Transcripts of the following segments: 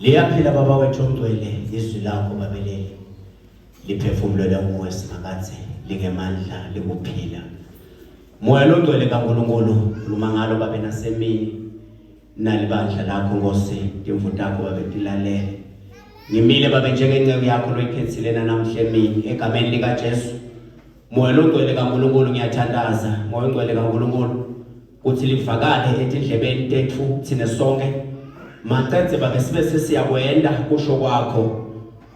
Liyaphila baba wethu ongcwele izwi lakho babelele liphefumulele umoya simakathe lingemandla likuphila moya longcwele kaNkulunkulu khuluma ngalo babe nasemini nalibandla lakho Nkosi timvu takho babe tilalele ngimile babe njengenceku yakho loyikhethile namhla emini egameni likaJesu Moya longcwele kaNkulunkulu ngiyathandaza moya ongcwele kaNkulunkulu ukuthi livakale etindlebeni tethu thina sonke maqedze babe sibe sesiyakwenda kusho kwakho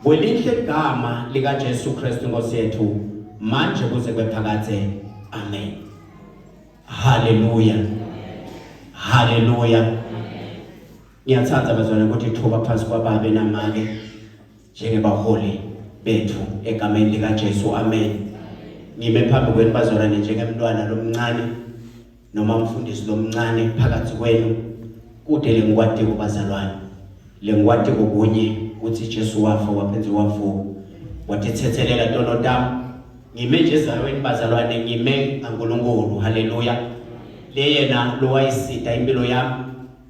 kwelinhle igama likaJesu Kristu Nkosi yethu manje kuze kwephakathe amen haleluya haleluya ngiyathanda bazalwane ukuthi thuba phansi kwababe namake njengebaholi bethu egameni likaJesu amen ngime phambi kwenu bazalwane njengemntwana lomncane noma umfundisi lomncane phakathi kwenu kude lengikwati kubazalwane lengikwati kokunye ukuthi Jesu wafa waphenze wavuka wathethethelela tono tam ngime nje ezalweni bazalwane ngime ngaNkulunkulu haleluya leyena lowayisida impilo yami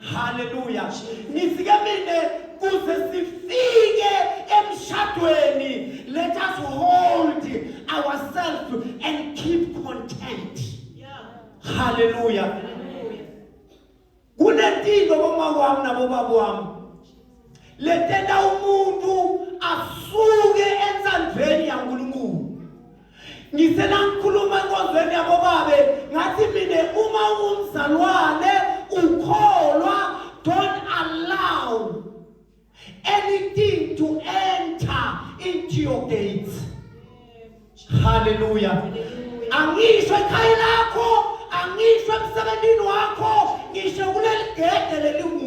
Haleluya. Nifike mina kuze sifike emshadweni let us hold ourselves and keep content. Haleluya. Kunentinto bomama wami nabobaba wami. Letenda umuntu asuke entsandveni yaNkulunkulu ngisenangikhuluma enkonzweni yabobabe ngathi mina uma ungumzalwane ukholwa don't allow anything to enter into your gates haleluya angisho ekhaya lakho angisho emsebenzini wakho ngisho kuleli gede lelimu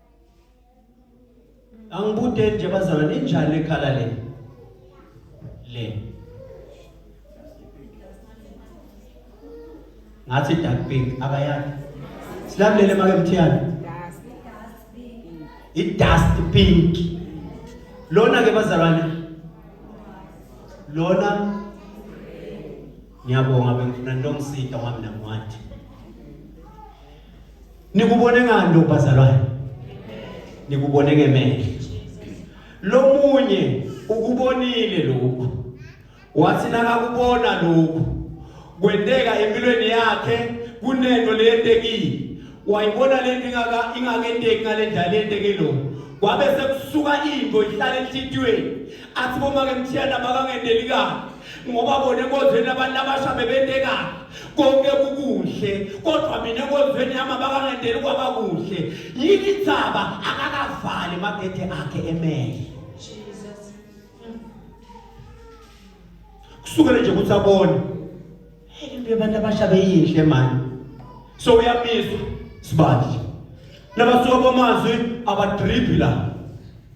Angibudeni nje bazalwane injani ekhala le? Le. Ngathi dark pink abayani. Silamlele make mthiyana. I dust pink. Lona ke bazalwane. Lona ngiyabonga bengifuna nongisida wami namwathi. Nikubone ngani lokho bazalwane? Nikubone ngemehlo. Lomunye ukubonile lokho. Wathi nakakubona lokho kwenteka empilweni yakhe kunento leyentekile. Wayibona lento ingaka ingakenteki ngalendlela lenteke lokho. Wabe sekusuka into ihlale enhlitiyweni. athi bomake mthiyana bakangendeli kabi ngoba bona enkonzweni abantu abasha bebente kabi konke kukuhle kodwa mina enkonzweni yami abakangendeli kwaba kuhle yini indzaba akakavali magede akhe emele kusukele nje ukuthi abone into yabantu abasha beyinhle mani so uyamizwa sibali nabasuka kwamazwi abadribhi la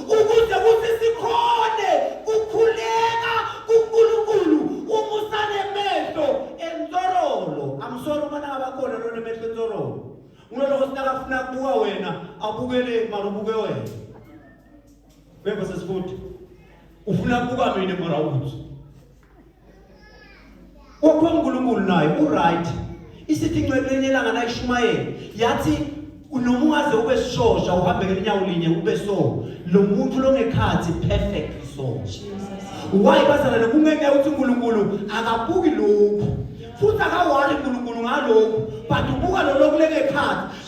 ukuze kuthi sikhone kukhuleka kuNkulunkulu uma usanemehlo entorolo amsolo uma nangabakhona lona emehlo entorolo ngiloloko sinakafuna kubuka wena abukele mara ubuke wena bebasesifuthi ufuna kubuka mina mara ukuthi Wakho uNkulunkulu naye uright. Isifinqo elinelanga nayishumayela yathi noma ungaze ube sishosha uhambe ngenyawo linye ube so lo muntu longekhathi perfect so why bazana lokungeke uthi uNkulunkulu akabuki lokhu futhi akawari uNkulunkulu ngalokhu but ubuka lo lokulekekhathi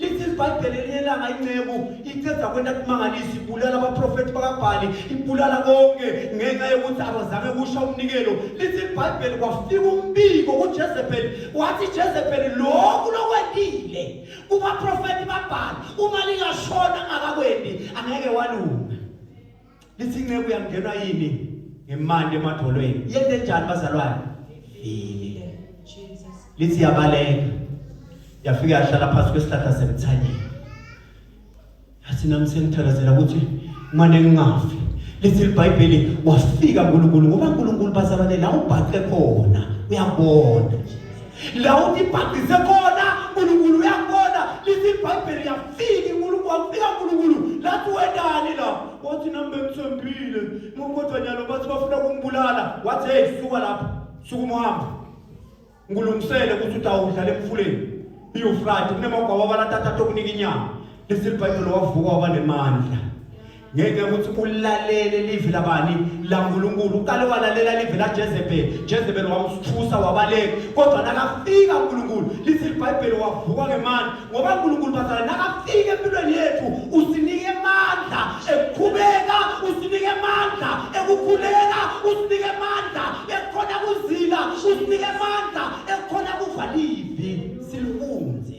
lithi ibhayibheli elinye ilanga inceku iceda kwenta kumangalisa ibulala abaprofethi bakabhali ibulala konke ngenxa yokuthi abazange kusha umnikelo lithi ibhayibheli kwafika umbiko kujezebheli wathi jezebheli lokhu lokwendile kubaprofethi babhali uma lingashona ngakakwendi angeke walunga lithi inceku yangenwa yini ngemandi emadolweni yente njani bazalwane vile lithi yabaleka yafika yahlala phansi kwesihlahla semthanyeni yathi nami sengithandazela ukuthi mane ngingafi lithi libhayibheli wafika nkulunkulu ngoba nkulunkulu bazalwane la ubhaqe khona uyabona la utibhagise khona nkulunkulu uyakubona lithi ibhayibheli uyafika inkulunkulu wakufika nkulunkulu lathi wendani la wathi nami bengithembile kodwa nyalo bathi bafuna kungibulala wathi heyi suka lapho suka umuhambe ngilungisele ukuthi utawudlala emfuleni iyufrati kunemagwaba abalathatha tokunika inyama lithi libhayibheli wavuka waba nemandla ngeke ukuthi ulalele livi labani laNkulunkulu uqale walalela livi laJezebeli Jezebeli wamsithusa wabaleka kodwa nakafika uNkulunkulu lithi iBhayibheli wavuka ngemandla ngoba uNkulunkulu bazala nakafika empilweni yethu usinike amandla ekukhubeka usinike amandla ekukhuleka usinike amandla ekukhona kuzila usinike amandla ekukhona kuva livi silifunze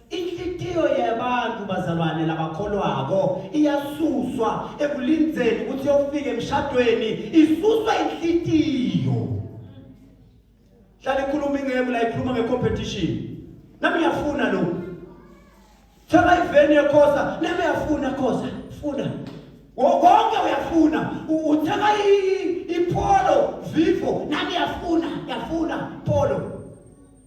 Inhlitiyo yabantu bazalwane labakholwako iyasuswa ekulindzeni ukuthi yofika emshadweni isuswa inhlitiyo hlale ikhuluma ingeke la ikhuluma ngecompetition nami uyafuna lo thema iveni yekhosa nami uyafuna khosa funa konke uyafuna uthema ipholo vivo nami uyafuna uyafuna pholo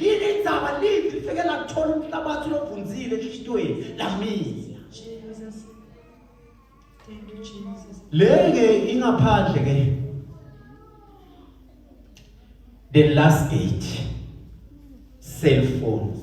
Yini indzaba livi lifike lakuthola umhlabathi lovunzile enhlitiyweni lamila. Jesus. Thank you Jesus. Lenge ingaphandle ke. The last gate. Cell phone.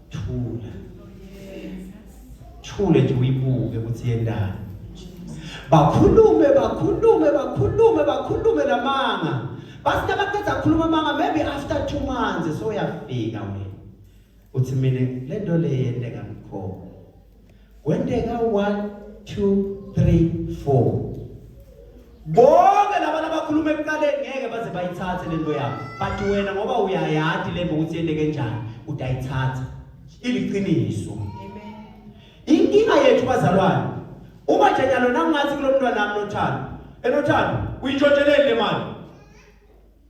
thula thule nje uyibuke ukuthi yendani bakhulume bakhulume bakhulume bakhulume lamanga basike baqeda khuluma manga maybe after 2 months so uyafika wena uthi mina lento le yenteka ngikhona Kwenteka 1 2 3 4 bonke labantu abakhuluma ekuqaleni ngeke baze bayithathe lento yakho but wena ngoba uyayadi le nto ukuthi yenteke njani utayithatha iliqiniso inkinga yethu bazalwane uma jenyalo nangathi kulo mntwana nami nothando enothando uyintshotsheleni le mali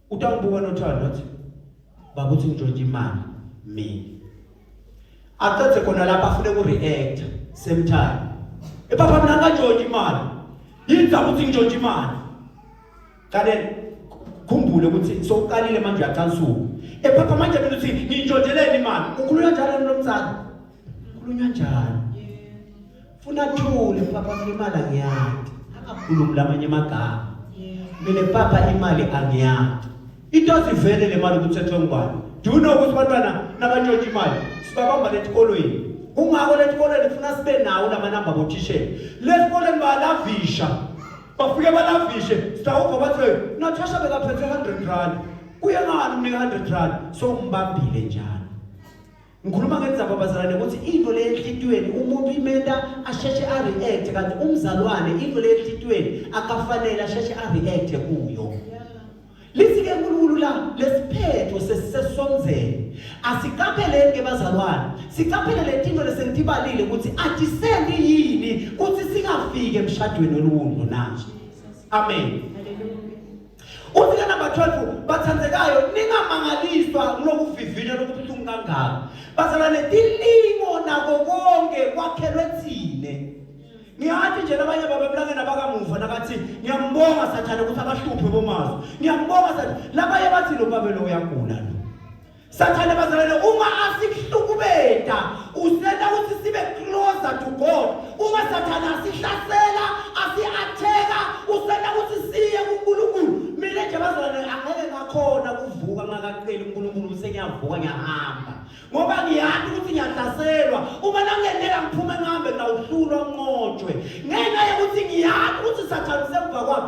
utangibuka nothando athi baba uthi ngitshontshe imali mina aqedze khona lapha afune ku-reacta same time ebaba mina ngantshontshe imali yini zaba ukuthi ngitshontshe imali kale khumbule ukuthi sokuqalile manje uyacansula ephapha manje mina uthi ngintshontsheleni imali ukhulula njalo nomzali Ukhulunywa njani? Funa thule papa kulimala ngiyati. Akakhulumi lamanye amagama. Mina papa imali angiyati. Into sivele le mali ukuthi ethwe ngubani. Do you know ukuthi bantwana nabantshontsha imali sibabamba letikolweni. Kungako letikolweni funa sibe nawo lamanamba bothishela. Lesikolweni balavisha. Bafike balavishe sitawuva bathi Natasha bekaphethe 100 rand. Kuye ngani umnika 100 rand? So umbambile njalo. Ngikhuluma ngendzaba abazalwane ukuthi into le enhlitiyweni umuntu imenta asheshe a-react kanti umzalwane into le enhlitiyweni akafanele asheshe a-react kuyo. Lisike uNkulunkulu la lesiphetho sesisesonzeni. Asiqapheleni ke bazalwane. Siqaphele letinto lesengitibalile ukuthi atisende yini kuthi singafiki emshadweni olungu na. Amen. Uthi ke number 12 bathandekayo ningamangaliswa kulokuvivinywa lokubuhlungu kangaka. Bazalwane tilingo nako konke kwakhelwe thine. Ngiyathi nje labanye babemlangeni abakamuva nakathi ngiyambonga sathane ukuthi abahluphe bomazwi. Ngiyambonga sathi labanye bathi lo babe lo uyagula lo. Sathane bazalwane uma asikuhlukubeda useta ukuthi sibe closer to God. Uma sathane asihlasela, asiatheka, useta ukuthi siye kuNkulunkulu. Mina nje bazalwane angeke ngakhona kuvuka ngakaqeli uNkulunkulu bese ngiyavuka ngiyahamba. Ngoba ngiyazi ukuthi ngiyahlaselwa. Uma nangeneka ngiphume ngihambe ngawuhlulwa nqotshwe. Ngenxa yokuthi ngiyazi ukuthi sathane usemva kwami.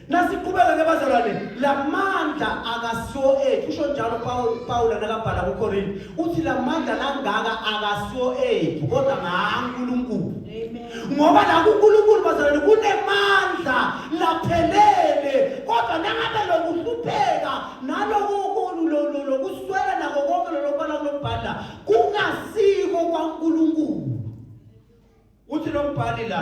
Nasiqhubeka ke bazalwane, lamandla akasiwo ethu. Usho njalo Paul Paul nakabhala kuKorinte. Uthi lamandla langaka akasiwo ethu, kodwa ngaNkulunkulu. Amen. Ngoba la kuNkulunkulu bazalwane kunemandla laphelele, kodwa nangabe lokuhlupheka naloku lokuswela nako konke lokubala kulobhala kungasiko kwaNkulunkulu. Uthi lombhali la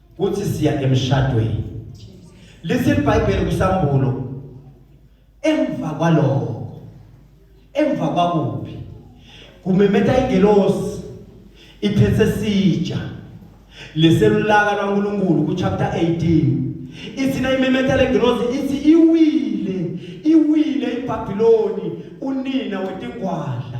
kuthi siya emshadweni lise bible kusambulo emva kwaloko emva kwakuphi kumemeta ingelosi iphethe sija leselulaka lwaNkulunkulu ku chapter 18 ithina imemeta lengelosi ithi iwile iwile iBabiloni unina wetingwadla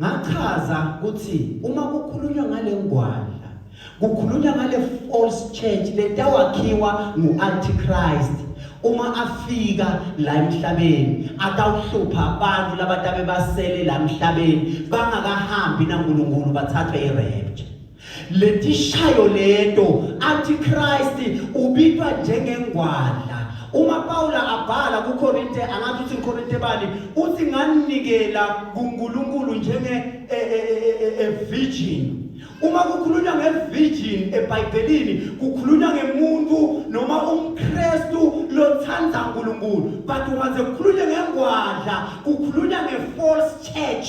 ngachaza ukuthi uma kukhulunywa ngale ngwadla kukhulunywa ngale false church letawakhiwa ngu-antichrist uma afika la emhlabeni atawuhlupha abantu labatabe basele la emhlabeni bangakahambi nankulunkulu bathathwe irepture Letishayo leto antichrist ubitwa njengengwadla uma Pawula abhala kuKorinte angathi uthi ngiKorinte bani uthi nganikela kuNkulunkulu njenge e, e, e, e virgin uma kukhulunywa ngevirgin ebhayibhelini kukhulunywa ngemuntu noma umkrestu lothanda unkulunkulu but ungaze kukhulunywe ngengwadla kukhulunywa nge-false church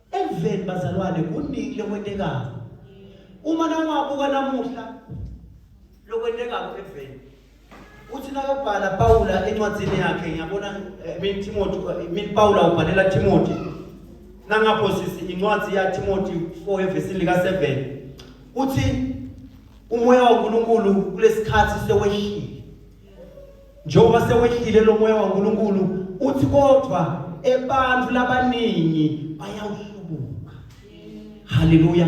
Emveni bazalwane kuningi lokwentekayo. Uma nawabuka namuhla lokwentekayo emveni. Uthi nakabhala Pawula encwadzini yakhe ngiyabona eh, min Timothy eh, min Pawula ubhalela Timothy. Nangapho sisi incwadi ya Timothy 4 evesini lika 7. Uthi umoya waNkulunkulu kulesikhathi sewehlile. njengoba sewehlile lo moya waNkulunkulu uthi kodwa ebantu labaningi bayawuhlubuka haleluya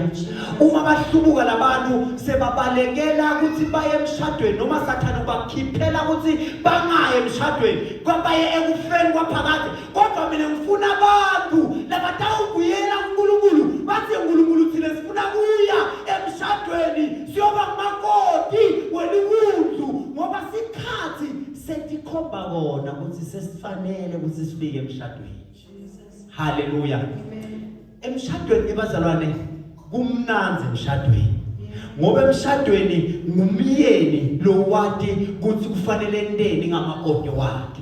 uma bahlubuka labantu sebabalekela ukuthi baye emshadweni noma sathana ubakhiphela ukuthi bangaye emshadweni kwabaye ekufeni kwaphakade kodwa mina ngifuna abantu labatawubuyela uNkulunkulu bathi uNkulunkulu thina sifuna kuya emshadweni siyoba makoti welibundlu ngoba sikhathi setikhomba kona ukuthi sesifanele ukuthi sifike emshadweni haleluya emshadweni bazalwane kumnandi emshadweni ngoba emshadweni ngumyeni lowati ukuthi kufanele enteni ngamakoti wakhe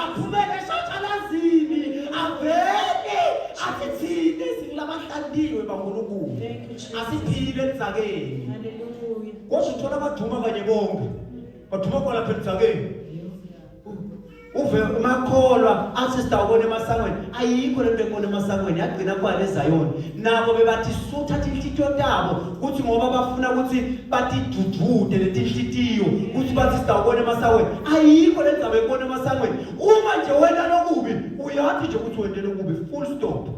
aphumele eshatshalazini avele athi thina esingilabahlaliwe bankulunkulu asiphile elidzakeni kodwa uthola abaduma kanye bonke baduma khona phela elidzakeni uve umakholwa athi sitawubona emasangweni ayikho lento ekubona emasangweni yagcina kwale ezayoni nabo bebathi suthatha inhlityo tabo kuthi ngoba bafuna ukuthi batidudude letinhlitiyo kuthi bathi sitawubona emasangweni ayikho le ndzaba yekubona emasangweni uma nje wena lokubi uyathi nje ukuthi wente lokubi full stop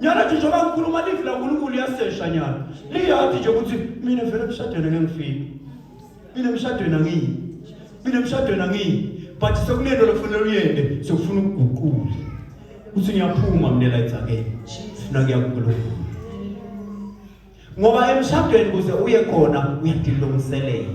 nyana nje njengoba ngikhuluma livi lankulunkulu liyasesha nyana liyathi nje ukuthi mina vele kushadele ngengifiki mina emshadweni angiyi mina emshadweni angiyi but sekunento lokufanele uyende sekufuna ukuguqula ukuthi ngiyaphuma mina la itsakeni funa kuyaguqula ngoba emshadweni kuze uye khona uyadilungiselela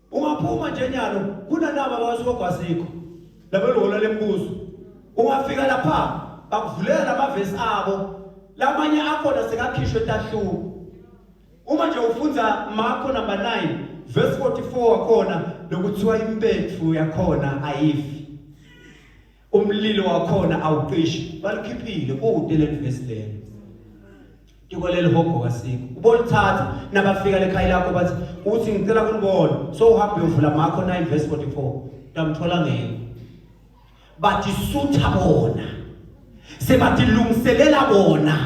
Ungaphuma nje nyalo kunanaba abasokho asikho labelona lembuzo. Ungafika lapha bakuvulela lamavesi abo lamanye akhona sekakhishwe tahluko. Uma nje ufundza Marko number 9 verse 44 wakhona lokuthiwa impethu yakhona ayifi. umlilo wakhona awuqishi balikhiphile kude lelivesi lelo tiko lelihogo kasikho ubolithatha nabafika lekhaya lakho bathi uthi ngicela kulibona so uhambe uyovula makho 9 verse 44 ndamthola ngeke bathi sutha bona sebathi lungiselela bona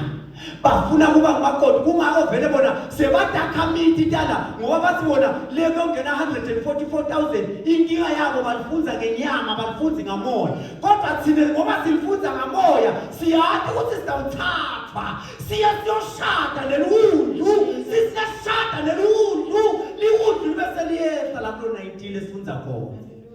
bafuna kuba ngumakoti kungako vele bona sebadakhamiti tala ngoba bathi bona le kuyongena 144000 inkinga yabo balifunza ngenyama balifunzi ngamoya kodwa thina ngoba silifunza ngamoya siyathi ukuthi sizawuthathwa siye siyoshada leli wundlu sisiyashada leli wundlu liwundlu libe seliyehla lapho lona idile esifunza khona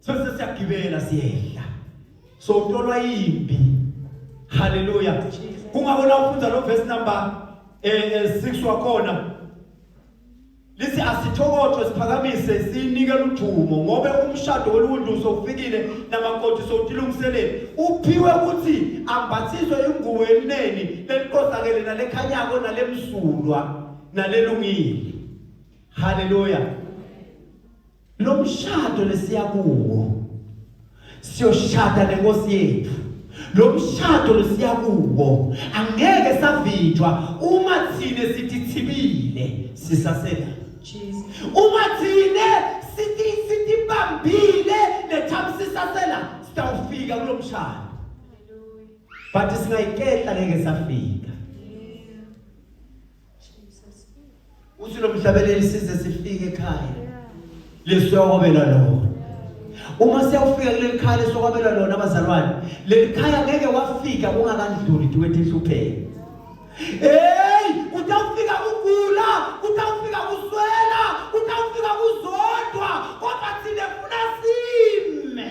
Sase siyagibela siyehla. So tolwa imbi. Hallelujah. Kungabona ufunda lo verse number eh 6 eh, wakhona. Lithi asithokothwe siphakamise sinike ludumo ngobe umshado woluntu sofikile namakoti sotilungiselele uphiwe ukuthi ambathiswe ingubo elineni leliqosakele nalekhanyako nalemsulwa nalelungile. Hallelujah. Lo mshado lesiya kuwo siyoshada nenkosi yethu. Lo mshado lesiya kuwo angeke savinjwa uma thina sithi thibile sisasela. Jesus. Uma thina sithi sithi bambile lethamsisasela sitawufika kulo mshado. But singayikehla ngeke safika. uthi lo mhlabeleli size sifike ekhaya lesiyawabela lona uma siyawufika kuleli khaya lesokwabela lona abazalwane leli khaya ngeke wafika kungakandluli tiwethe inhlupheko heyi utawufika kugula utawufika kuswela utawufika kuzodwa kodwa thina funa sime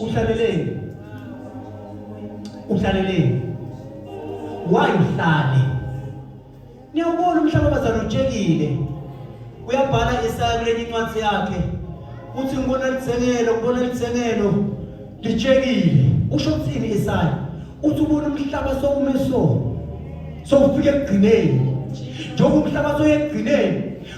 uhlaleleni uhlaleleni why uhlale niyawubona umhlaba bazana utshekile uyabhala isaya kuleni incwadi yakhe uthi ngibona lithengelo ngibona lithengelo litshekile usho ukuthini isaya uthi ubona umhlaba sokume so sokufika ekugcineni njengoba umhlaba soyekugcineni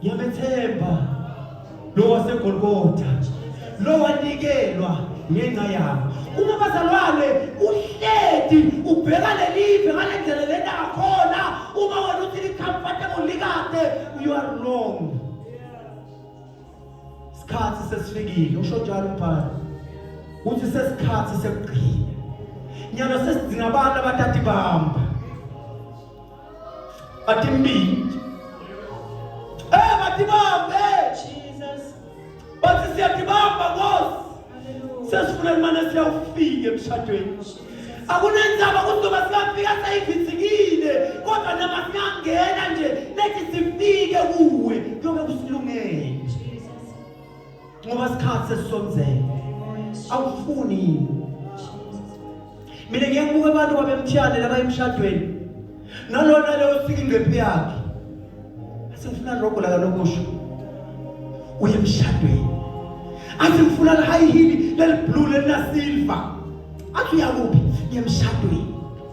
Ngiyamethemba lo waseGolgotha lo wanikelwa ngenxa yabo. Uma bazalwane uhledi ubheka lelive ngale ndlela lena khona uma wena uthi li-comfortable likade you are wrong. Isikhathi sesifikile usho njalo umbhali. Uthi sesikhathi sekugcina. Nyalo sesidinga abantu abathatha ibamba. Ati mbili. Eh, bati bambe. Jesus. Bati si ati bamba boss. Sesifuna imana siya ufike emshadweni. Akunenzaba ukuthi ngoba singafika sayivithikile kodwa noma singangena nje lethi sifike kuwe kuyobe kusilungele. ngoba sikhathi sesisonzele awufuni yini mina ngeke kuke abantu babemthiyane laba emshadweni nalona leyo sika ingqephi yakhe asifuna rogo la kalokusho uye emshadweni athi ngifuna le high heel leli blue lena silver athi uyakuphi ngemshadweni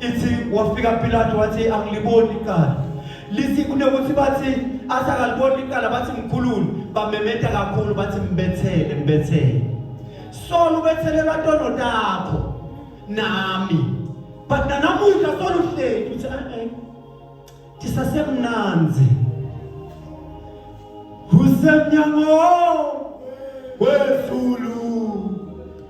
ithi wafika Pilate wathi angiliboni icala lithi kunokuthi bathi asakaliboni icala bathi mkhulule bamemeta kakhulu bathi mbethele mbethele solo ubethele batono takho nami but nanamuhla solo uhleki uthi eh, eh tisasemnanzi usemnyango wezulu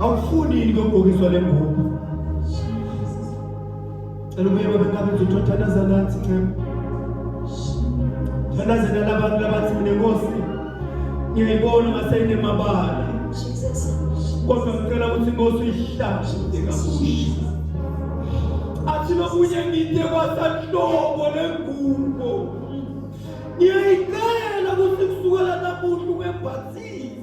awufuni ngokugokiswa le ngubo cela ubuye babengabe nje uthandaza nathi ncema thandazela labantu labathi mina nkosi ngiyayibona ngaseyinemabala kodwa ngicela ukuthi nkosi uyihlangule kabusha athi lokunye ngide kwasanhlobo lengubo ngiyayicela ukuthi kusukela namuhla ungembathile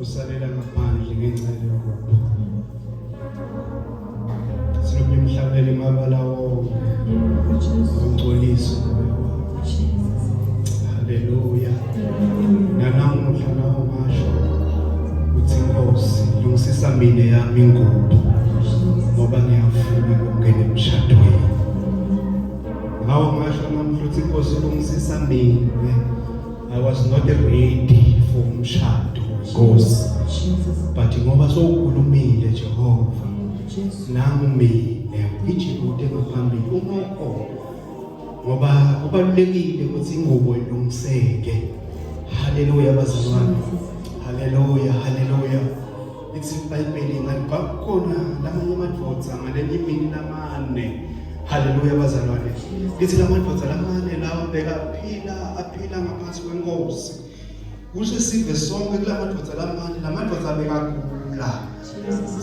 usalela ngaphandle ngenxa yalokho sinomnye umhlabele mabala wonke awungcolisi haleluya nanamuhla nawo masho uthi nkosi lungisisa mina yami ingubo ngoba ngiyafuna ukungena emshadweni ngawo ngasho namuhla uthi nkosi lungisisa mina I was not ready for umshado Nkosi. But ngoba sowukhulumile Jehova. Nami mina ngijike ude ngaphambili uma ukhona. Ngoba kubalulekile ukuthi ingubo ilungiseke. Haleluya bazalwane. Haleluya, haleluya. Lithi iBhayibheli ngathi kwakukhona lamanye amadvodza ngalenye imini lamane. Haleluya bazalwane. Lithi lamadvodza lamane lawa bekaphila aphila ngaphansi kwenkosi. Kusho sive sonke kulamadvodza lamane lamadvodza bekagula.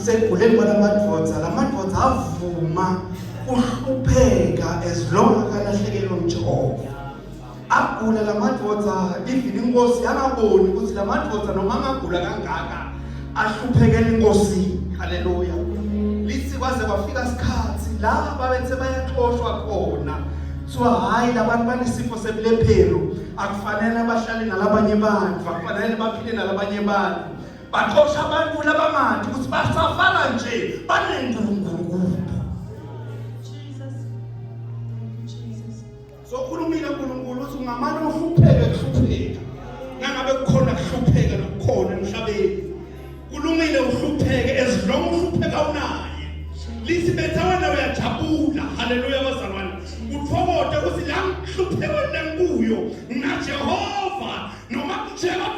Sekuguleni kwalamadvodza lamadvodza avuma uhlupheka as long akalahlekelwa uJehova. agula la madoda even inkosi yangaboni ukuthi la madoda noma angagula kangaka ahluphekela inkosi haleluya lithi kwaze kwafika isikhathi la babethe bayaxoshwa khona kuthiwa hhayi labantu banesifo sebulephero akufanele bahlale nalabanye bantu akufanele baphile nalabanye bantu baxosha abantu labamanje ukuthi basafala nje banengqungqungu Sokhulumile uNkulunkulu uthi ungamane uhlupheke kuhlupheka. Nangabe kukhona kuhlupheka nokukhona emhlabeni. Kulungile uhlupheke ezilonga uhlupheka unaye. Lithi betha wena uyajabula. Haleluya bazalwane. Uthokote uthi la ngihlupheka la ngikuyo. Ngina Jehova noma kunjeba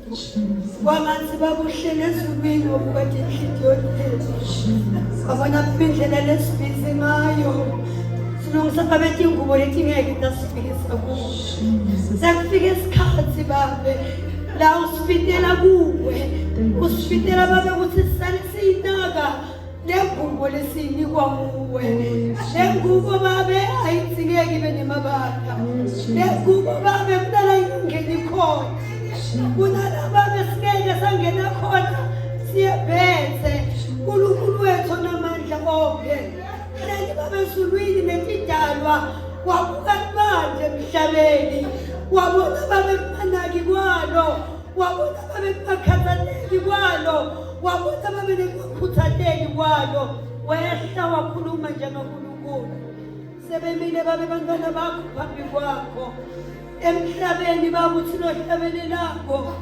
Wamanzi bakuhlele ezulwini okukade inhliziyo yethu. Wabona phuma indlela lesibhizi ngayo. Silungisa babethu ingubo lethi ngeke itasifikisa kuwo. Sekufika isikhathi babe la usifitela kuwe. Usifitela babe ukuthi sisale siyinaka. nengubo lesiyinikwa nguwe nengubo babe ayitsikeki ibe nemabaka nengubo babe kunala ingeni khona kunala babe singeke sangena khona siyebhethe unkulunkulu wethu onamandla onke leli babe ezulwini netidalwa wabuka kubanje emhlabeni wabona babe kumanaki kwalo wabona babe kungakhathaleki kwalo wabona babe nekungakhuthazeki kwalo wehla wakhuluma njengankulunkulu sebemile babe bantwana bakho phambi kwakho emhlabeni babu sinohlabeni lakho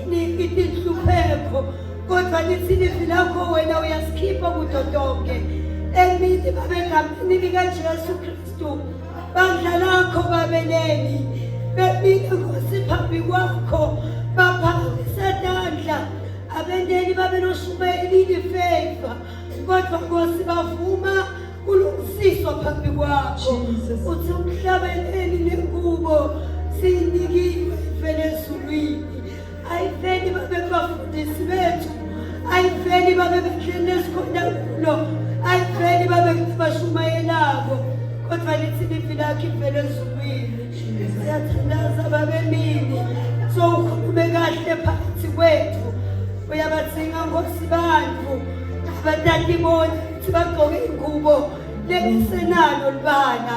niphi tinhlupheko kodwa lithi livi lakho wena uyasikhipha kudo tonke emini babe ngamini likajesu kristu bandla lakho babeleli bebika nkosi phambi kwakho baphakamise tandla abenteni babenoshumayeli lifeva kodwa nkosi bavuma kulungisiswa phambi kwakho uthi umhlabeleli lengubo siyinikile ifele ezulwini ayiveli babe kubafundisi bethu ayiveli babe bendleni esikhona kulo ayiveli babe kubashumayelabo kodwa lithi livi lakho ivele ezulwini siyathandaza babemini sowukhulume kahle phakathi kwethu uyabathinga nkosi bantu abatatiboni ukuthi bagqoke ingubo lengisenalo libana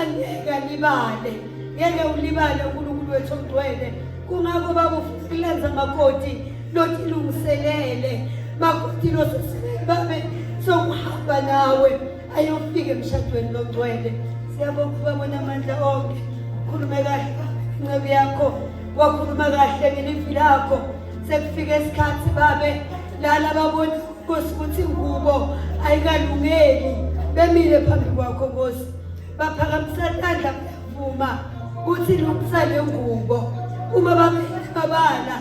angeke alibale ngeke ulibale unkulunkulu wethu omgcwele kungakho baba ufuna kulenza makoti lotilungiselele makoti loseselele babe sokuhamba nawe ayofika emshadweni longcwele siyabonga ubabona amandla onke khulume kahle incebe yakho wakhuluma kahle ngelivwi lakho sekufike isikhathi babe lala babona Nkosi ukuthi ngubo ayikalungeli bemile phambi kwakho Nkosi baphakamisa tandla vuma ukuthi lungisa le ngubo uma bababala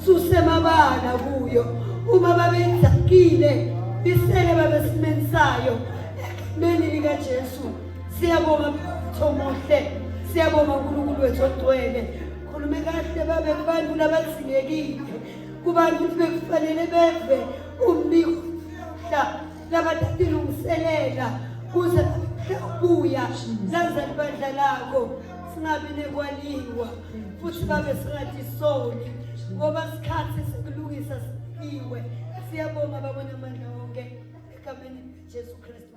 susemabala kuyo uma babeyizakile bisele babesimeni sayo egameni likaJesu siyabonga thomuhle siyabonga uNkulunkulu wethu ogcwele khulume kahle babe kubantu labathingekile kubantu ukuthi bekufanele beve umbiko mhla labathatha ilungiselela kuze ubuya nazali bandla lakho singabi nekwaliwa futhi babe singathi soni ngoba sikhathi sikulungisa sikiwe siyabonga babona amandla wonke egameni jesu kristu